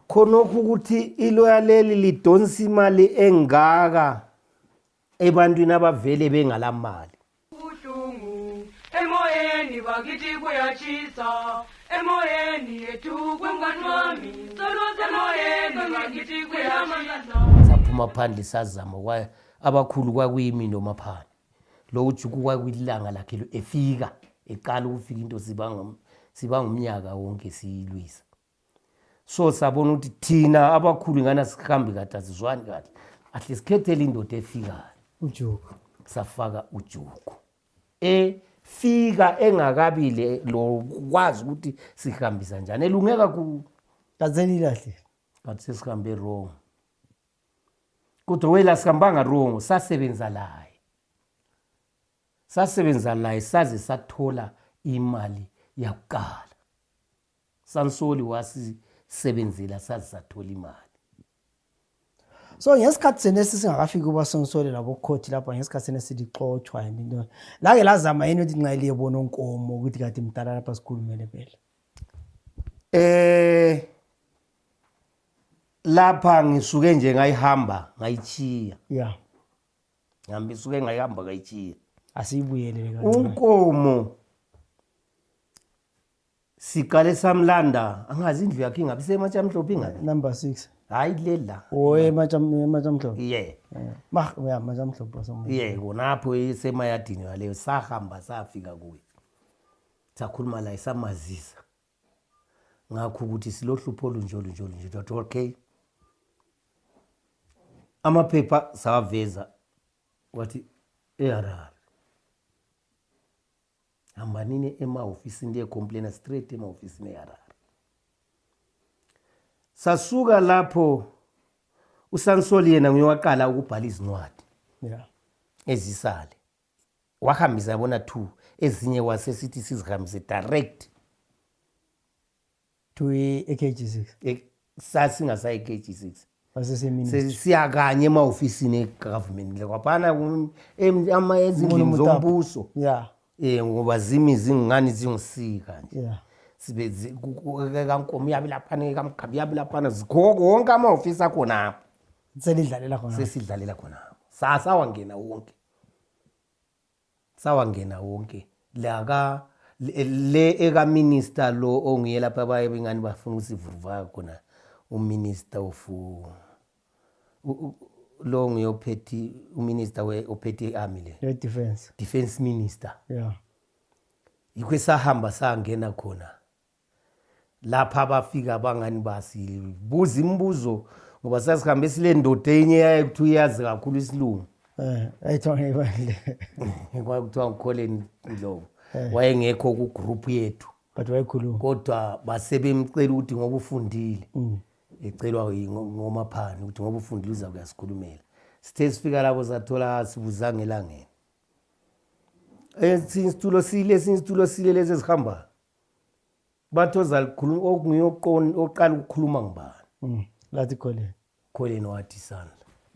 khonokho ukuthi iloya leli lidonsa imali engaka ebantwini abavele bengalamali ubuhlungu emoyeni bakithi kuyatshisa emoyeni yethu kwemngani wami solosemoyeni bakithi kuyatshisa saphuma phandle sazama kwaye abakhulu kwakuyimi nomaphandle lo ujuku kwakuyilanga lakhe efika eqala ukufika into siba ngumnyaka wonke siyilwisa so sabona ukuthi thina abakhulu ngana sihambi kade asizwani kahle ahle sikhethele indoda efikayo ujuku safaka ujuku efika engakabile lokwazi ukuthi sihambisa njani elunge kakhulu kazeni kahle but sesihambe wrong kodwa wela sihambanga wrong sasebenza laye sasebenza laye saze sathola imali yakuqala sansoli wasisebenzela saze sathola imali so ngesikhathi sena esisingakafiki kuba sonsole labokhothi lapha ngesikhathi sena silixotshwa yini into lake lazama yini ukuthi nxa liyebona onkomo ukuthi kade mdala lapha sikhulumele phela eh lapha ngisuke nje ngayihamba ngayichiya ya ngihamba isuke ngayihamba ngayichiya asiyibuyelele unkomo Siqale samlanda angazi indlu yakhe ingabe isematshamhlophe ingabe. Number 6. Hayi kuleli la. Oye ematshamhlophe. Yeah. Mah uya ematshamhlophe somuntu. Yeah, konapho isemayadini yaleyo sahamba safika kuye. Sakhuluma la isamazisa. Ngakho ukuthi silohlupho olunjolo njolo nje dot okay. Amaphepha sawaveza wathi eHarare. hambanini emahofisini ndiyecomplaina straight emahofisini eharare sasuka lapho usansoli yena nguye waqala ukubhala izincwadi yeah. ezisale wahambisa yabona two ezinye wasesithi sizihambise direct to ekg six Eh, sasingasayi kg six sasesemini sesiya kanye emahofisini egovernment le kwaphana kum- em- ama- ezindlini Molo Motapa. zombuso ya um ngoba zimi zingani zingusika nje ya sibe zi- ku- ku- kankomo iyabe laphana ekamgabi iyabe laphana zikhoko wonke amahofisi akhonapho selidlalela khona sesidlalela khonapho sasawangena wonke sawangena wonke laka le ekaminister lo onguye lapha abaye bengani bafuna ukusivuruvaya khona uminister of lo nguye ophethe uminister ophethe i-army le defense defense minister yeah yikho esahamba sangena khona lapha abafika abangani basibuza imibuzo ngoba sasihambe sile ndoda enye yaye kuthiwa iyazi kakhulu isilungu eh, kwakuthiwa ngikholeni ndlobo eh. wayengekho kugroup yethu but wayekhuluma kodwa basebemcela ukuthi ngoba ufundile mm. ecelwa ngomaphani ukuthi ngoba ufundile uza kuyasikhulumela sithe sifika lapho sathola sibuzanga elangeni esinye isitulo sile esinye isitulo sile lezi ezihambayo bathi ozalikhuluma okunguye oqon- oqala ukukhuluma ngubani Mm, lathi kholeni kholeni wathi isandla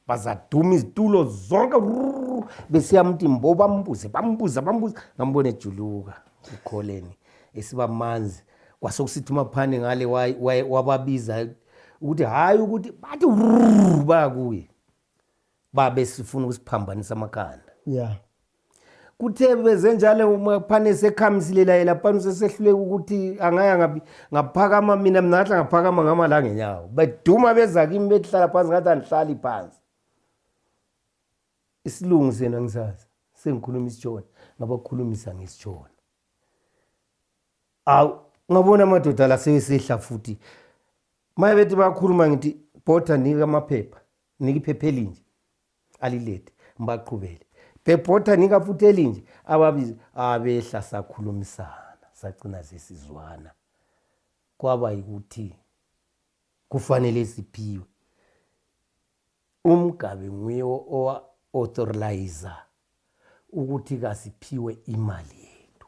bazaduma izitulo zonke rrrr, besiya mtimbo bambuze bambuza bambuza ngambone ejuluka ukholeni esiba manzi kwasokusithi umaphane ngale wa- wa- wababiza ukuthi hhayi ukuthi bathi rrrr, bakuye babe sifuna ukusiphambanisa amakhanda ya kuthe beze njalo uma phane esekhamisile laye laphana usesehluleka ukuthi angaya ngapi ngaphakama mina mina ngahla ngaphakama ngama la ngenyawo beduma beza kimi behlala phansi ngathi andihlali phansi isilungu sena ngisazi sengikhuluma isitshona ngabakhulumisa ngesitshona awu ngabona amadoda la seyesehla futhi maye bethi bakhuluma ngithi bhotha nika amaphepha nika iphepha elinje alilethe mbaqhubele bebhotha nika futhi elinje ababizi abehla sakhulumisana sacina zesizwana kwaba yikuthi kufanele siphiwe umgabe nguye owa-authorize ukuthi kasiphiwe imali yethu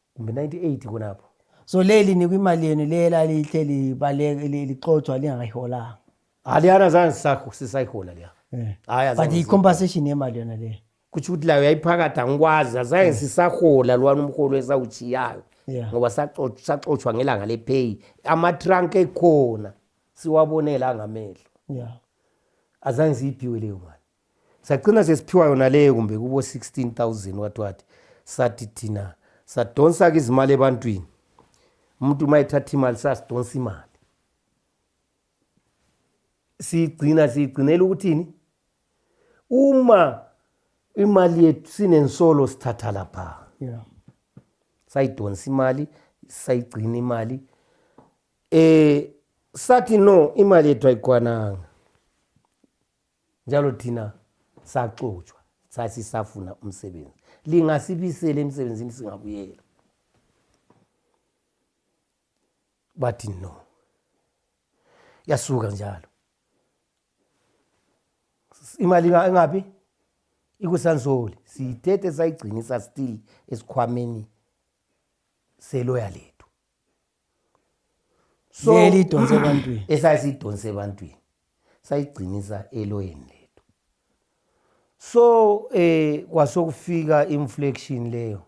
kumbe 98 khonapho so leli nikwa imali yenu le elalihle libaleke li- lixotshwa lingakayiholanga aliyana zange sisakho- sisayihola leya Eh. Hayi, azange but siyiholele. i-compensation yemali yona leyo kutsho ukuthi layo yayiphakathi angikwazi azange sisahola lwana umholo esawutshiyayo Yeah. ngoba saxo- saxotshwa ngelanga lepheyi amatrank ekhona siwabonela angamehlo ya azange siyiphiwe leyo mali sagcina sesiphiwa yona leyo kumbe kubo 16000 wathi wathi sathi thina sadonsa-ke izimali ebantwini umuntu uma ethatha imali sasidonsa imali siyigcina siyigcinela ukuthini uma imali yethu sinensolo sithatha lapha yeah. sayidonsa imali sayigcina imali eh sathi no imali yethu ayikwananga njalo thina saxotshwa sasisafuna umsebenzi lingasibisela emsebenzini singabuyela bathi no yasuka njalo imali engabi ikusansoli siyithethe sayigcinisa still esikhwameni seloya lethu eliyidonse ebantwini esayisiyidonse ebantwini sayigcinisa eloyeni lethu so eh kwasokufika inflection leyo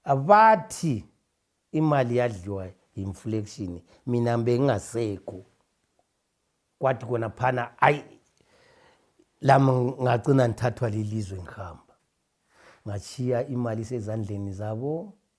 abathi imali yadliwa inflection mina bengingasekho kwathi kona phana ayi lami ngagcina ngithathwa lilizwe ngihamba ngachiya imali sezandleni zabo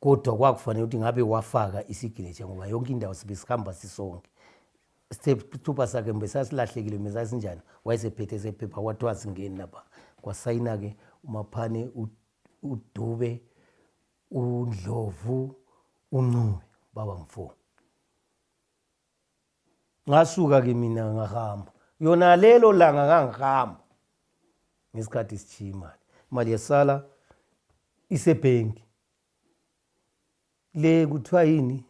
kodwa kwakufanele ukuthi ngabe wafaka isiginature ngoba yonke indawo sibe sihamba sisonke isithupha sakhe mbe sasilahlekile mbe sasinjani wayesephethe sephepha kwathiwa singeni lapha kwasayina-ke umaphane udube undlovu uncube baba mfo ngasuka ke mina ngahamba yona lelo langa ngangihamba ngesikhathi sitshiya imali imali yasala isebhenki le kuthiwa yini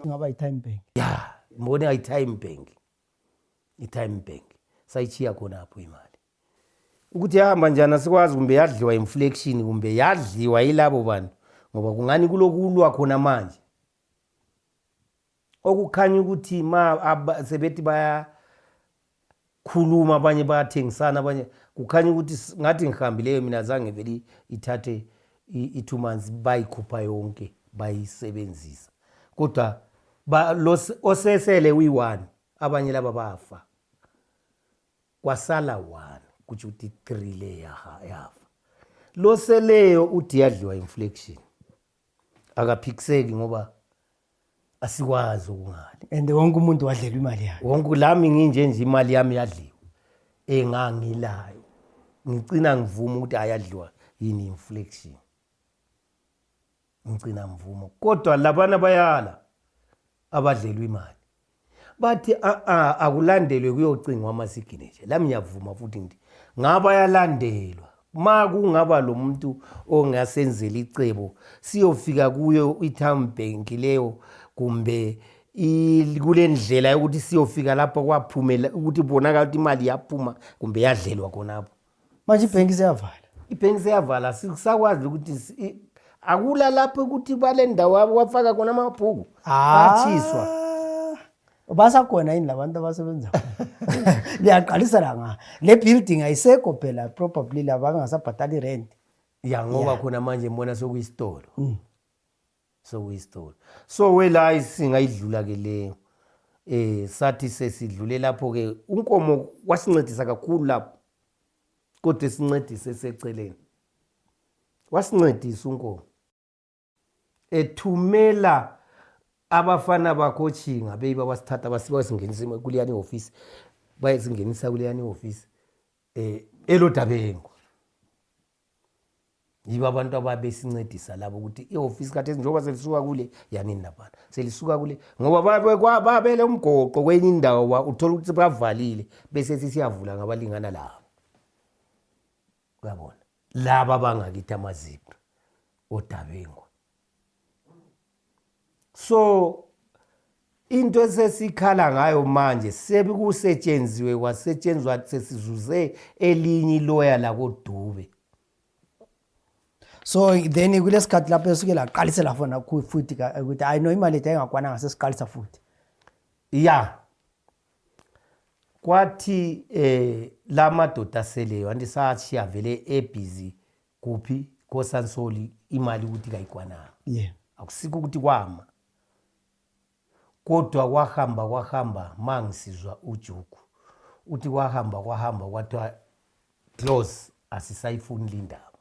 ngaba yi-time bank ya mbone ayi-time bank i-time bank sayichiya khonapho imali ukuthi yahamba njani asikwazi kumbe yadliwa inflection kumbe yadliwa yilabo bantu ngoba kungani kulokulwa khona manje okukhanya ukuthi ma sebethi bayakhuluma abanye bayathengisana abanye kukhanya ukuthi ngathi ngihambileyo mina zange vele ithathe i-two months bayikhupha yonke bayisebenzisa kodwa osesele uyi-one abanye laba bafa kwasala one kutsho ukuthi three le yafa loseleyo uthi yadliwa inflection akaphikiseki ngoba asikwazi okungali and wonke umuntu wadlelwa imali yakhe wonke lami nginje nje imali yami yadliwa engangilayo ngicina ngivuma ukuthi ayadliwa yini inflection ngicina ngivuma kodwa labana bayala abadlelwa imali bathi a-a akulandelwe kuyocingwa amasigineje lami ngiyavuma futhi ngithi ngaba yalandelwa ma kungaba lo muntu ongasenzela icebo siyofika kuyo i-town bank leyo kumbe kule ndlela yokuthi siyofika lapho kwaphumela ukuthi kubonakala ukuthi imali yaphuma kumbe yadlelwa khonapho manje ibhenki seyavala ibhenki seyavala sisakwazi ukuthi akula lapho ukuthi bale ndawo wafaka khona amabhuku ah. atshiswa basakhona yini labantu abasebenza liyaqalisa la nga le building ayisekho phela probably labangasabhatali rent ya ngoba khona manje mbona sokuyisitolo mm. sokuyisithole so welayi singayidlula ke leyo eh sathi sesidlule lapho ke unkomo wasincedisa kakhulu lapho kodwa sincedise seceleni wasincedisa unkomo ethumela abafana bakho otshinga beyiba basithatha basingenisa kuleyani ihofisi bayesingenisa kuleyani ihofisi um eh, elodabengo yibo abantu ababesincedisa labo ukuthi ihofisi kathesi njengoba selisuka kule yanini laphana selisuka kule ngoba babele umgoqo kwenye indawo uthole ukuthi bavalile bese sisiyavula ngabalingana labo uyabona laba bangakithi amazipho odabengwa so into esesikhala ngayo manje sekusetshenziwe kwasetshenzwa sesizuze elinye iloya lakodube so then kulesikhathi lapho esuke laqalisela fona futhi ukuthi hayi no imali ethu ayingakwananga sesiqalisa futhi ya kwathi eh la madoda aseleyo anti sathi avele ebhizi kuphi kosansoli imali ukuthi kayikwananga yeah. akusikho ukuthi kwama kodwa kwahamba kwahamba mangisizwa ujuku uthi kwahamba kwahamba kwathiwa close asisayifuni lindaba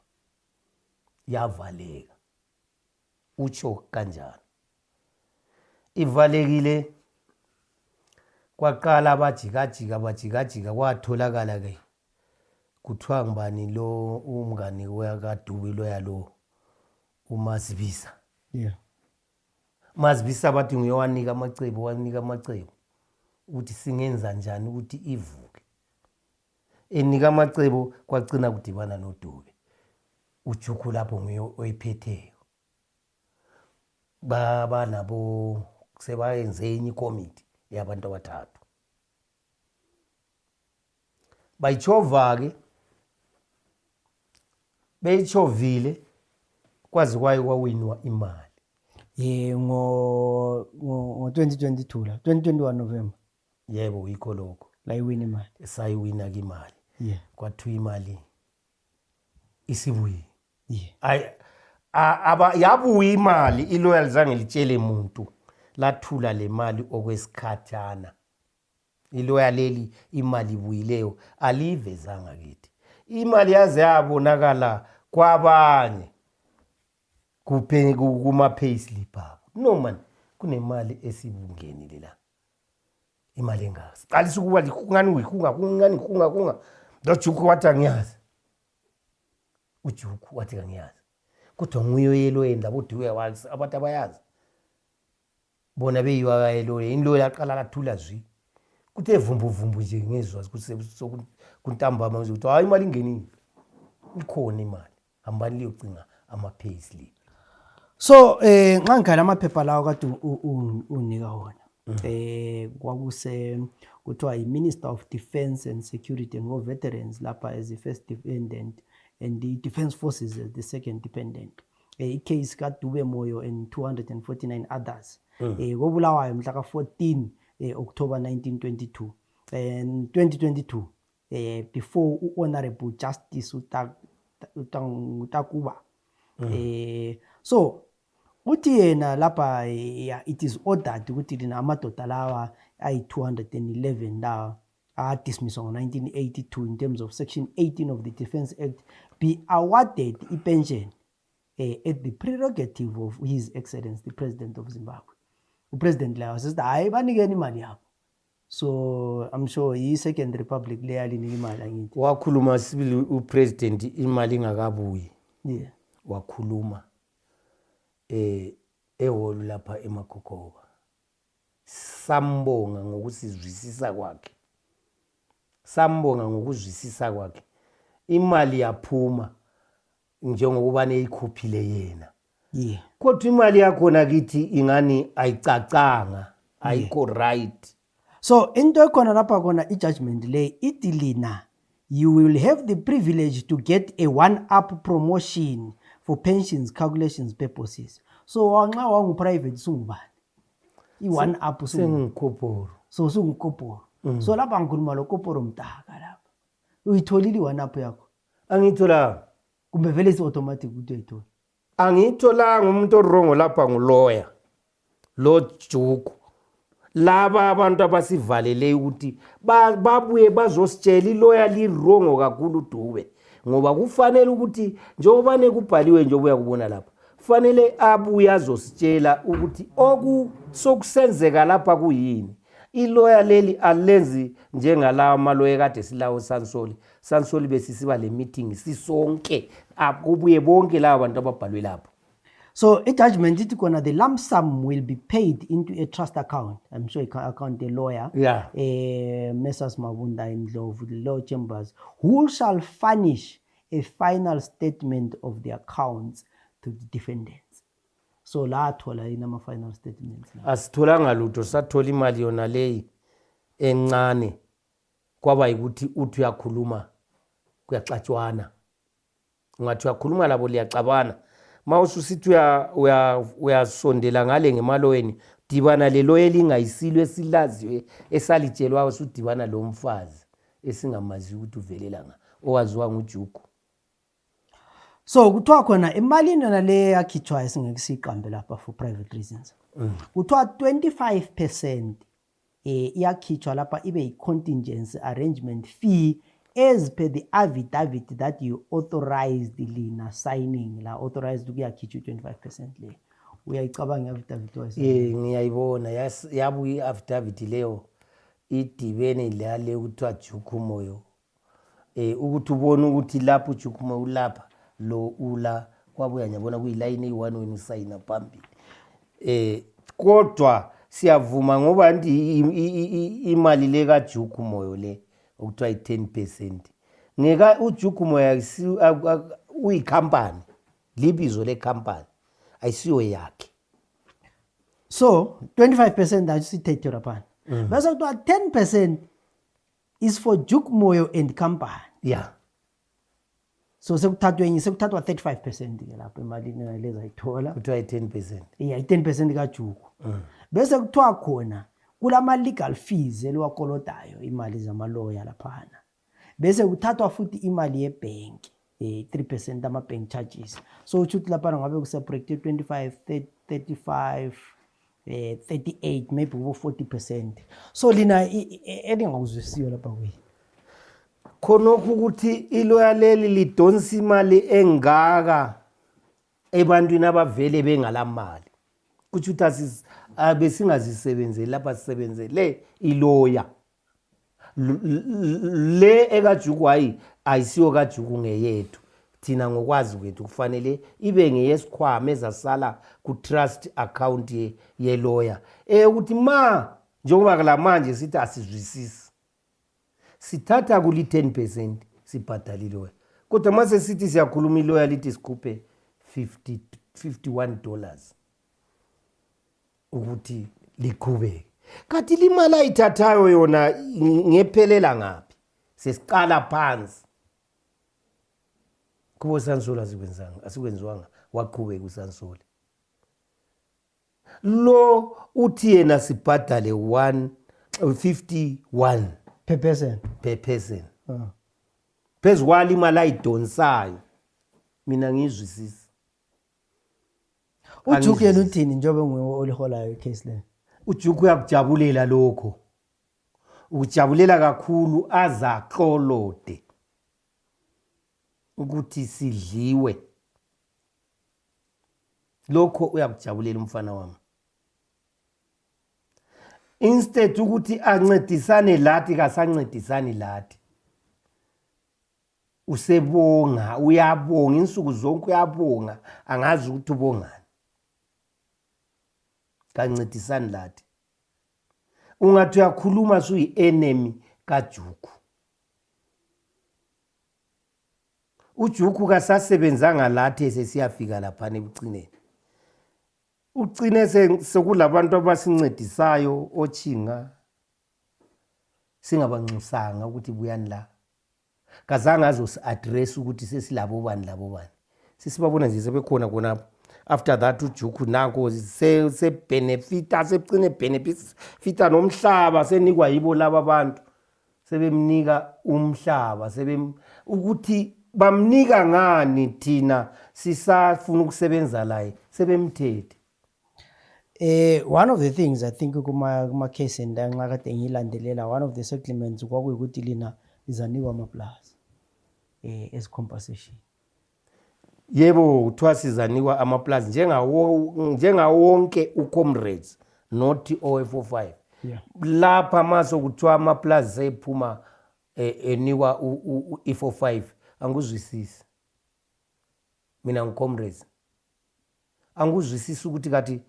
yavaleka utsho kanjalo ivalekile kwaqala abajikajika bajikajika kwatholakala ke kuthiwa ngubani lo umngani wekadubi loya lo umazibiza yeah. mazibisa bathi nguye wanika amacebo wanika amacebo ukuthi singenza njani ukuthi ivuke enika amacebo kwacina kudibana nodube ujuku lapho nguye oyiphetheyo baba nabo sebayenze enye ikomiti yabantu abathathu bayitshova-ke beyitshovile kwazi kwayo kwawinwa imali ye ngo-2022 la 2021 november yebo yikho lokho layiwina imali sayiwina ke imali yeah kwathiwa imali isibuye yeah ay aba yabuya imali iloyal zange litshele muntu lathula le mali okwesikhathana iloya leli imali ibuyileyo aliyivezanga kithi imali yaze yabonakala kwabanye kuma payslip abo no man kunemali esibungenile la imali engaka siqalisa ukuba likungani ngikungaka kungani ngikungaka kungaka lojuku wathi angiyazi ujuku wathi kangiyazi kodwa nguye oyeloyeni labo duya wakhe abantu abayazi bona beyiwa kayeloye ini loyo laqala lathula zwi kuthi evumbuvumbu nje ngezwa kuntambama nje kuthiwa hayi imali ingenile ikhona imali hambani liyocinga ama-payslip so eh nxa ngikhala amaphepha lawo kade unika wona mm. eh kwakuse kuthiwa yi-minister of defence and security and war veterans lapha as the first dependent and the defence forces as the second dependent um eh, icase kadube moyo and 249 others um mm. eh, kobulawayo mhla ka-14 um eh, october 1922 and 2022 eh before uhonorable justice utakuba mm. eh so uthi yena lapha eh, it is ordered ukuthi lina amadoda lawa ayi 211 lawa adismisswa ngo-1982 in terms of section 18 of the defence act be awarded ipension eh, at the prerogative of his excellence the president of zimbabwe upresident layo sesithi hhayi banikeni imali yabo so i'm sure yi-second republic leyalinika imali angithi wakhuluma sibili upresident imali ingakabuyi yeah. wakhuluma eh ehholo lapha emakhokhova sambonga ngokusizwisisa kwakhe sambonga ngokuzwisisa kwakhe imali yaphuma njengokuba neyikhuphile yena yeah. kodwa imali yakhona kithi ingani ayicacanga ayikho right so into ekhona lapha kona i-judgment le ithi lina you will have the privilege to get a one up promotion for pensions calculations purposes so nxa wangu-private sungubani i-one up sengikoporo so sungukoporo mm. so lapha ngikhuluma lo koporo mdaka lapha uyitholile i-one up yakho angiyitholanga kumbe vele isi-automatic ukuthi uyayithola angiyitholanga umuntu orongo lapha nguloya lo juku laba abantu abasivalele ukuthi babuye bazositshela iloya lirongo kakhulu dube ngoba kufanele ukuthi njengoba nekubhaliwe nje obuya kubona lapha kufanele abuye azositshela ukuthi okusokusenzeka lapha kuyini iloya leli alenzi njengalawa maloya kade silawo sansoli sansoli besisiba le meeting sisonke akubuye bonke laba bantu ababhalwe lapho so i-judgment ithi kona the lump sum will be paid into a trust account i'm sure account a lawyer yeah. uh, eh, messrs mabunda indlovu the law chambers who shall furnish a final statement of the accounts to the defendant so la athola yini ama-final statements asitholanga lutho sathola imali yona leyi encane kwaba yikuthi uthi uyakhuluma kuyaxatshwana ungathi uyakhuluma labo liyaxabana ma ususithi uyasondela ngale ngemaloweni dibana leloyo elingayisilo esilaziwe esalitshelwayo sudibana lo mfazi esingamazi ukuthi uvelela nga owaziwa ngujugu so kuthiwa khona emalini yona le yakhitshwayo esingeke siyiqambe lapha for private reasons mm. kuthiwa 25 percent eh iyakhitshwa lapha ibe yi contingency arrangement fee as per the affidavit that you authorized lina signing la authorized ukuyakhitshwa 25% leyo uyayicabanga i-affidavit wayo eh ngiyayibona yabuya i-affidavit leyo idibene lale kuthiwa juku moyo e, ukuthi ubone ukuthi lapho ujukhuma ulapha lo ula kwabuya ngiyabona kuyilayini eyi-one wena usayina phambili um kodwa siyavuma ngoba nti imali le kajuku moyo le okuthiwa i-ten percent ngeka ujuku moyo uyikhampani libizo lekhampani ayisiyo yakhe so 25 percent ayo sithethe laphana mm. bese kuthiwa 10 percent is for Duke Moyo and company. Yeah. So sekuthathwe enye sekuthathwa 35% ke lapho emalini ngaleza ayithola. Kuthiwa i-10%. Yeah, i-10% kaJuku. Mm. Bese kuthiwa khona kulama legal fees eliwakolodayo imali zamaloya laphana. Bese kuthathwa futhi imali yebhenki. eh, 3 percent ama-bank charges so utsho ukuthi lapha ngabe kuseproject ye-25 35 eh, 38 maybe kubo 40 percent so lina elingakuzwisiyo lapha kuyini khonokho ukuthi iloya leli lidonsa imali engaka ebantwini abavele bengalamali kutsho ukuthi besingazisebenzeli lapha sisebenzele iloya le ekajukwayi ayisiyo kajuku ngeyethu thina ngokwazi kwethu kufanele ibe ngeyesikhwama ezasala ku-trust account yeloya eyokuthi ma njengoba kula manje sithi asizwisisi sithatha kuli-10 percent sibhadala iloya kodwa uma sesithi siyakhuluma iloya lithi sikhuphe 51 dollars ukuthi liqhubeke kanti limali ayithathayo yona ngephelela ngaphi sesiqala phansi kubo sansoli asikwenzanga asikwenziwanga waqhubeka usansoli lo uthi yena sibhadale 151 per person per person ah. phezu kwalo imali ayidonsayo mina ngiyizwisisa ujuku yena uthini njengoba nguwe oliholayo icase le ujuku uyakujabulela lokho ukujabulela kakhulu azaklolode ukuthi sidliwe lokho uyakujabulela umfana wami instead ukuthi ancedisane lathi kasancedisani lathi usebonga uyabonga insuku zonke uyabonga angazi ukuthi ubongani kancedisani lathi ungathi uyakhuluma suyi-enemy kajuku ujuku kasasebenzanga lathi esesiyafika laphana ekucineni ucine sekulabantu abasincedisayo otshinga singabanxusanga ukuthi buyani la kazange azosi-address ukuthi sesilabobani labobani sesibabona nje sebekhona khonapho after that ujuku nako sebhenefita sekucine bhenefita nomhlaba senikwa yibo laba abantu sebemnika umhlaba sebem ukuthi bamnika ngani thina sisafuna ukusebenza laye sebemthethe Eh one of the things I think kuma kuma case endanxa kade ngilandelela one of the settlements kwakuyikuthi lina lizanikwa amaplaza eh as compensation. Yebo kuthiwa sizanikwa amaplaza njengawo njengawo wonke ucomrades not OFO5. Yeah. Lapha maso kuthiwa amaplaza ephuma eh, enikwa u-E45 anguzwisisi. Mina ngicomrades. anguzwisisi ukuthi kati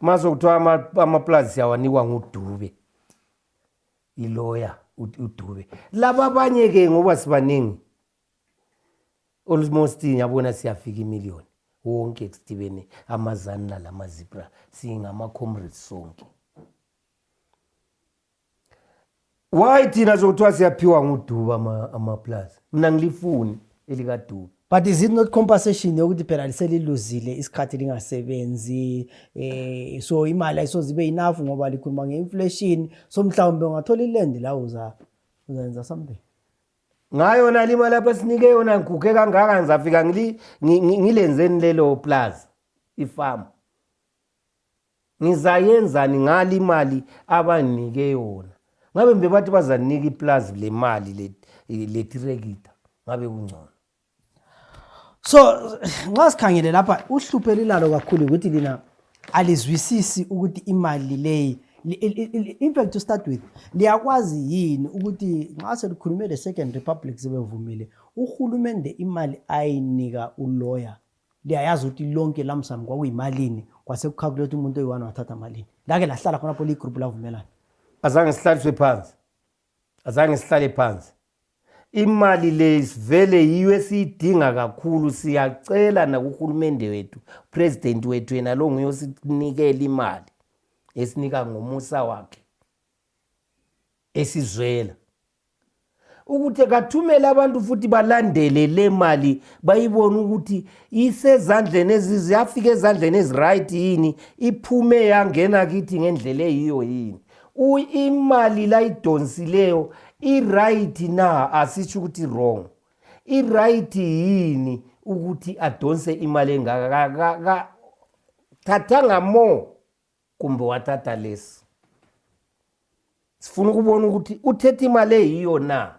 maso kuthiwa amaplazi awanikwa ngudube iloya udube laba abanye ke ngoba sibaningi almost yabona siyafika imillion wonke sidibene amazanila lamazibra singama-comrades sonke why thina zokuthiwa siyaphiwa nguduba amaplaza mna ngilifuni elikaduba but is it not compensation yokuthi phela liseliluzile isikhathi lingasebenzi eh so imali ayisoze ibe enough ngoba likhuluma nge-inflation so mhlawumbe ungathola ilendi la uza uzenza something ngayo na lima lapha sinike yona ngiguge kangaka ngizafika ngilenzeni lelo plaza ifamu ngizayenzani ngali imali abanginike yona ngabe mbe bathi bazanika iplazi lemali letirekita ngabe kungcono so nxa sikhangele lapha uhluphe lilalo kakhulu ukuthi lina alizwisisi ukuthi imali leyi in fact to start with liyakwazi yini ukuthi nxa selikhulume le-second republic sebevumile uhulumende imali ayinika uloya liyayazi ukuthi lonke lamsam kwakuyimalini kwasekukhakulela ukuthi umuntu oyi-one wathatha malini lake lahlala khonapho liyigroupu lavumelana azange sihlaliswe phansi azange sihlale phansi imali le sivele yiyo esiyidinga kakhulu siyacela nakuhulumende wethu president wethu yena lo nguye osinikela imali esinika ngomusa wakhe esizwela ukuthi kathumele abantu futhi balandele le mali bayibone ukuthi isezandleni yafika ezandleni eziright yini iphume yangena kithi ngendlela eyiyo yini imali layidonsileyo iright na asitsho ukuthi wrong iright yini ukuthi adonse imali engaka thathanga more kumbe wathatha lesi sifuna ukubona ukuthi uthethe imali eyiyo na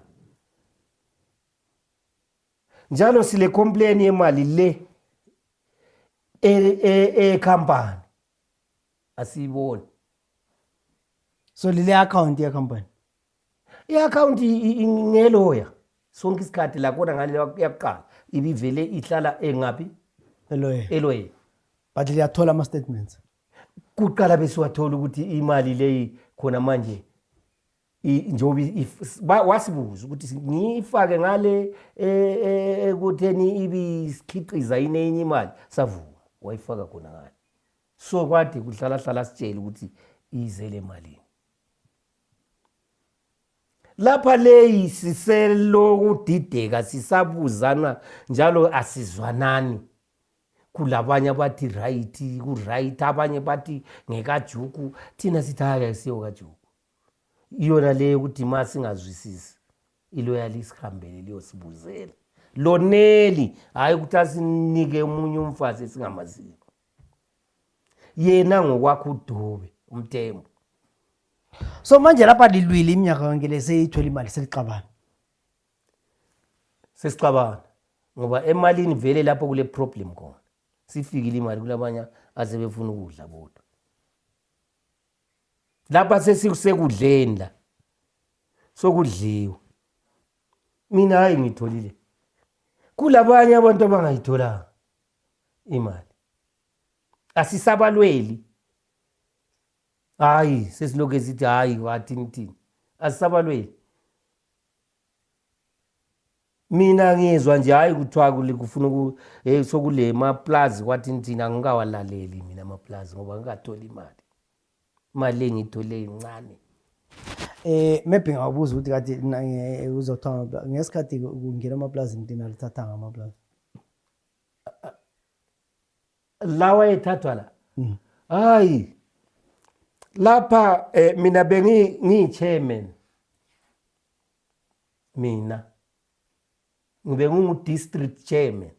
njalo sile complain yemali le ecompany e, e asiyiboni so lile account yecompany i-akhawunti ngeloya sonke isikhathi lakhona ngale yakuqala ibivele ihlala engaphi eloyeni eloyeni but liyathola ama-statements kuqala besiwathola ukuthi imali leyi khona manje njengoba wasibuza ukuthi ngiyifake ngale e, e, ekutheni ibisikhiqiza yini enye imali savuma wayifaka khona ngale so kwade kuhlalahlala sitshele ukuthi izele malini lapha leyi siselokudideka sisabuzana njalo asizwanani kulabanye abathi right kuright abanye bathi ngekajuku thina sithi hayi ayisiyo kajuku iyona leyo ukuthi ma singazwisisi iloyali isihambele liyosibuzela loneli hhayi ukuthi asinike omunye umfazi esingamaziyo yena ngokwakho udube umthembu so manje lapha lilwile iminyaka yonke le seyithola imali selixabana sesixabana ngoba emalini vele lapho kule problem khona sifikile imali kulabanye aze befuna ukudla bodwa lapha sesisekudleni la sokudliwa mina hayi ngitholile kulabanye abantu abangayitholanga imali asisabalweli hayi sesiloke sithi hayi wathini thini asisabalweli mina ngizwa nje hayi kuthiwa kufuna um eh, sokule maplazi kwathini thini angikawalaleli mina amaplazi ngoba ngikatholi imali imali engiyithole incane Eh maybe ngawubuza ukuthi kade eh, uzothola ngesikhathi kungena amaplazi into nalithatha ngamaplazi. lawa ethathu ala mm. hayi lapha eh, mina bengiyi-chairman mina ngibe ngingu-district chairman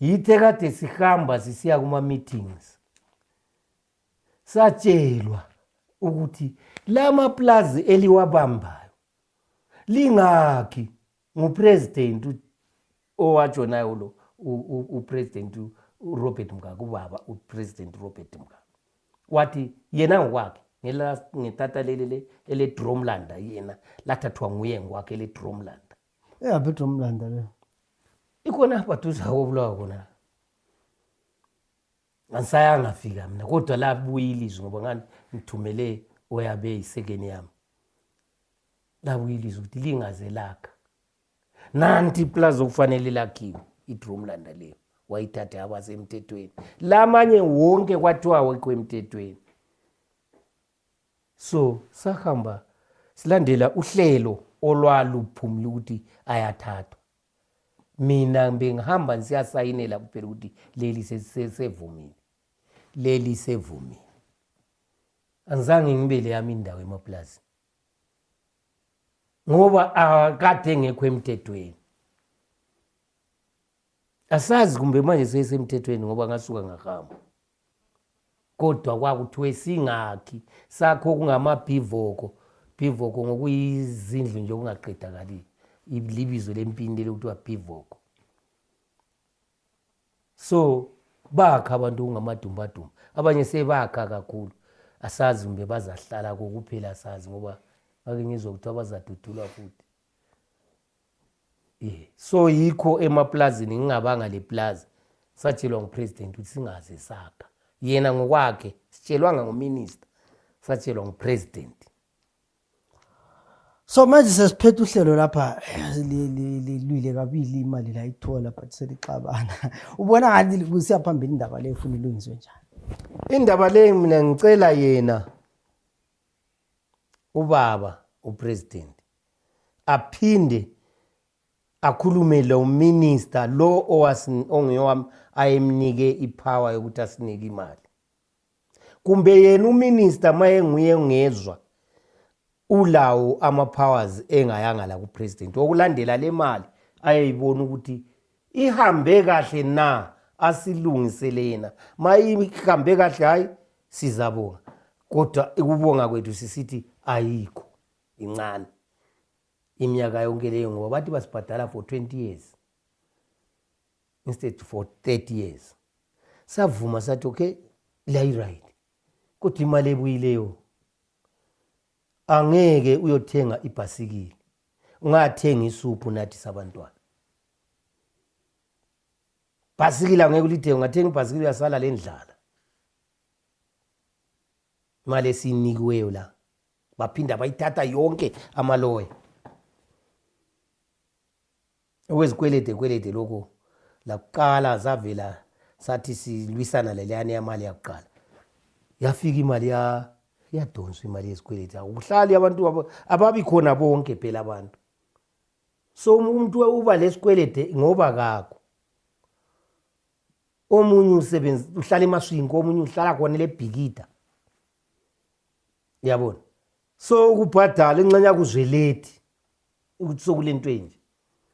yithe kade sihamba sisiya kuma-meetings satshelwa ukuthi la maplazi eliwabambayo lingakhi ngupresident owatshonayo ulo upresident urobert mngaka ubaba upresident urobert mngaka wathi yena ngokwakhe ngetata leli eledromlanda yena lathathwa nguye ngokwakhe eledromlanda eyaphi idromlanda le ikhona apha duza kobulawa kona angisayangafika mina kodwa labuye ilizwi ngoba ngani ngithumele oyabe yisekeni yami labuye ilizwe ukuthi lingaze lakha nanti iplazi okufanele lakhiwe idrumlanda leyo wayithathe abasemthethweni lamanye wonke kwathiwa wekho emthethweni so sahamba silandela uhlelo olwaluphumile ukuthi ayathathwa mina bengihamba ngisiyasayinela kuphela ukuthi leli sesevumile leli sevumile angizange ngibele yami indawo emaplazini ngoba akade engekho emthethweni asazi kumbe manje seyisemthethweni ngoba ngasuka ngahamba kodwa kwakuthiwe singakhi sakho kungamabhivoko bhivoko ngokuyizindlu nje okungaqedakali libizo lempini leli kuthiwa bhivoko so bakha abantu kungamadumbadumba abanye sebakha kakhulu asazi kumbe bazahlala kokuphela asazi ngoba ngake ngizwa ukuthi abazadudulwa futhi ye so yikho emaplazini ngingabanga leplazi satshelwa ngupresident ukuthi singaze sakha yena ngokwakhe sitshelwanga nguminista satshelwa ngupresident so manje sesiphethe uhlelo lapha lilwile kabili imali layithola but selixabana ubona ngathi kusiya phambili indaba leyo funa ilungiswe njani indaba leyo mina ngicela yena ubaba upresident aphinde akhulume lo minister lo ongeyowami ayemnike ipower yokuthi asinike imali kumbe yena uminista ma enguye engezwa ulawo ama-powers engayanga la kupresident okulandela le mali ayeyibona ukuthi ihambe kahle na asilungisele yena ma ihambe kahle hhayi sizabonga kodwa ukubonga kwethu sisithi ayikho incane iminyaka yonke leyo ngoba bathi basibhadala for 20 years instead for 30 years savuma sathi okay liyayiright kodwa imali ebuyileyo angeke uyothenga ibhasikili ungathenga isuphu nathi sabantwana bhasikili angeke ulithenge ungathenga ibhasikili uyasala le ndlala imali esiyinikiweyo la baphinda bayithatha yonke amaloya okwezikwelede kwelede lokhu lakuqala zavela sathi silwisana leleyana yamali yakuqala yafika imali ya iyadonswa imali yezikweleti akuhlali abantu ababi khona bonke phela abantu so um, umuntu uba lesikwelede ngoba kakho omunye usebenzi uhlala emaswinki omunye uhlala khona lebhikida yabona so ukubhadala inxenye yakuzweledi ukuthi sokule nto enje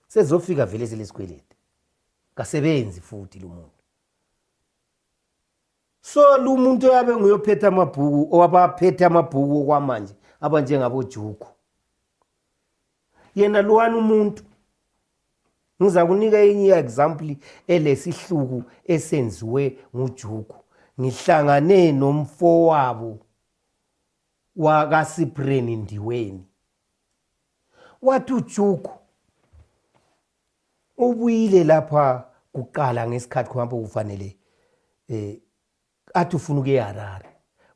sezofika vele selesikweledi kasebenzi futhi lo muntu so lo muntu oyabe nguyophetha amabhuku owabaphethe amabhuku okwamanje abanjengabojuku yena lowani umuntu ngiza kunika enye i-example elesihluku esenziwe ngujuku ngihlangane nomfowabo wakasipreni ndiweni wathi ujuku ubuyile lapha kuqala ngesikhathi kuhambe kufanele eh athi ufuna ukuye Harare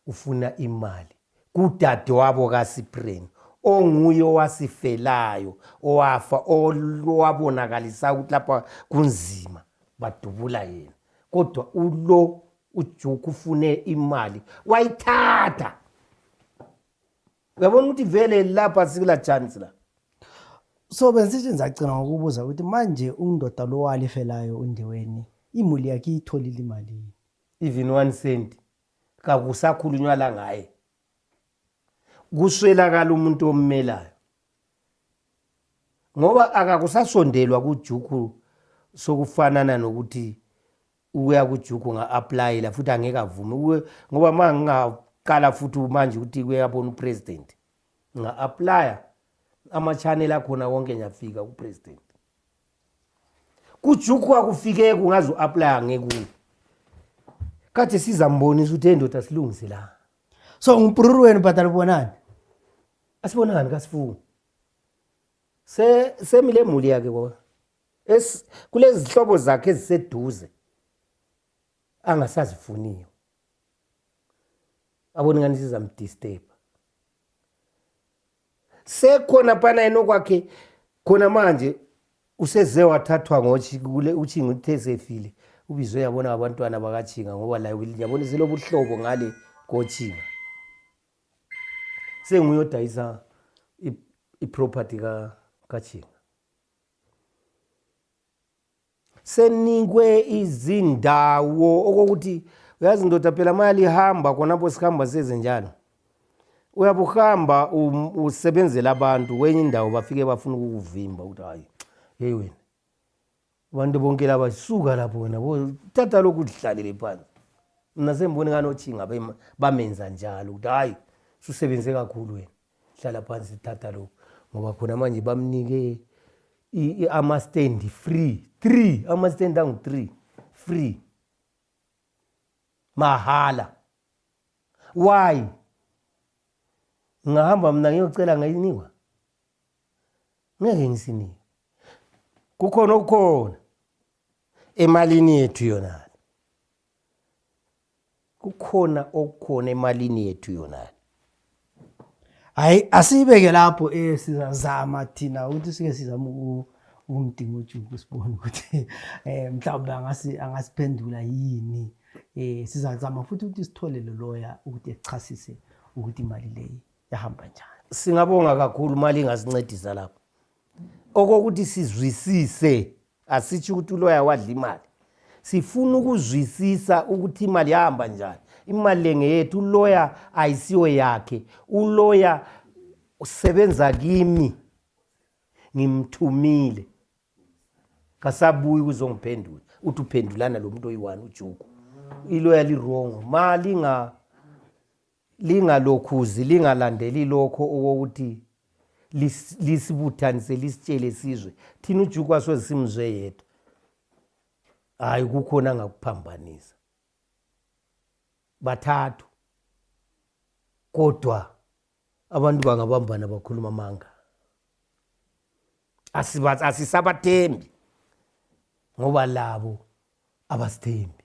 ufuna imali kudadewabo kaSipren onguye owasifelayo owafa owabonakalisa ukuthi lapha kunzima badubula yena kodwa ulo ujuku ufune imali wayithatha uyabona ukuthi vele lapha sikula chance la so bensithi nzacina ngokubuza ukuthi manje undoda lo walifelayo undiweni imuli yakhe iyitholile imalini even one cent kakusakhulunywa la ngaye kuswelakala umuntu ommelayo ngoba akakusasondelwa kujuku sokufanana nokuthi ukuya kujuku nga-aplayela futhi angeke avume ngoba ma ngingaqala futhi manje ukuthi kuyabona upresident nga-aplaya ama-channel akhona wonke ngiyafika kupresident kujuku akufikeki ungaze u-aplaya ngekuni kade sizambonisa ukuthi endoda silungise la so ngumpruru wenu bhadala ubonani asibonani kasifungi semile muli yakhe kwa kulezihlobo zakhe eziseduze angasazifuniyo aboni ngani sizamdisturba sekhona phana yena okwakhe khona manje useze wathathwa ngoutshinga uthe esefile ubizwe yabona abantwana bakatshinga ngoba laye yabona selobuhlobo ngale kotshinga senguyodayisa iproperty katshinga senikwe izindawo okokuthi uyazi ndoda phela ma lihamba khonapho sihamba size njalo uyabuhamba um, usebenzela abantu kwenye indawo bafike bafuna ukukuvimba ukuthi hayi yeyi wena abantu bonke laba suka lapho wena thatha lokhu udlalele phansi mna semboni kanotshinga bamenza njalo ukuthi hayi susebenze kakhulu wena hlala phansi sithatha lokhu ngoba khona manje bamnike amastendi free three amastendi angu-three free mahhala why ngingahamba mna ngiyocela ngayinikwa ngeke ngisinike kukhona okukhona emalini yethu yona kukhona okukhona emalini yethu yonale hayi asiyibeke lapho eh sizazama thina ukuthi sike sizama ukumdinga ujuku sibone ukuthi eh mhlawumbe angasi angasiphendula yini eh sizazama futhi ukuthi sithole lo lawyer ukuthi echasise ukuthi imali leyi yahamba njani singabonga kakhulu mali ingasincedisa lapho okokuthi sizwisise asitsho ukuthi uloya wadla imali sifuna ukuzwisisa ukuthi imali yahamba njani imali le ngeyethu uloya ayisiyo yakhe uloya usebenza kimi ngimthumile kasabuyi ukuzongiphendula uthi uphendulana lo muntu oyi-one ujuku iloya lirongo ma linga lingalokhuzi lingalandeli lokho okokuthi lisibuthanise lisitshele sizwe thina ujukwa soze simzwe yedwa hhayi kukhona angakuphambanisa bathathu kodwa abantu bangabambana bakhuluma amanga asisabathembi ngoba labo abasithembi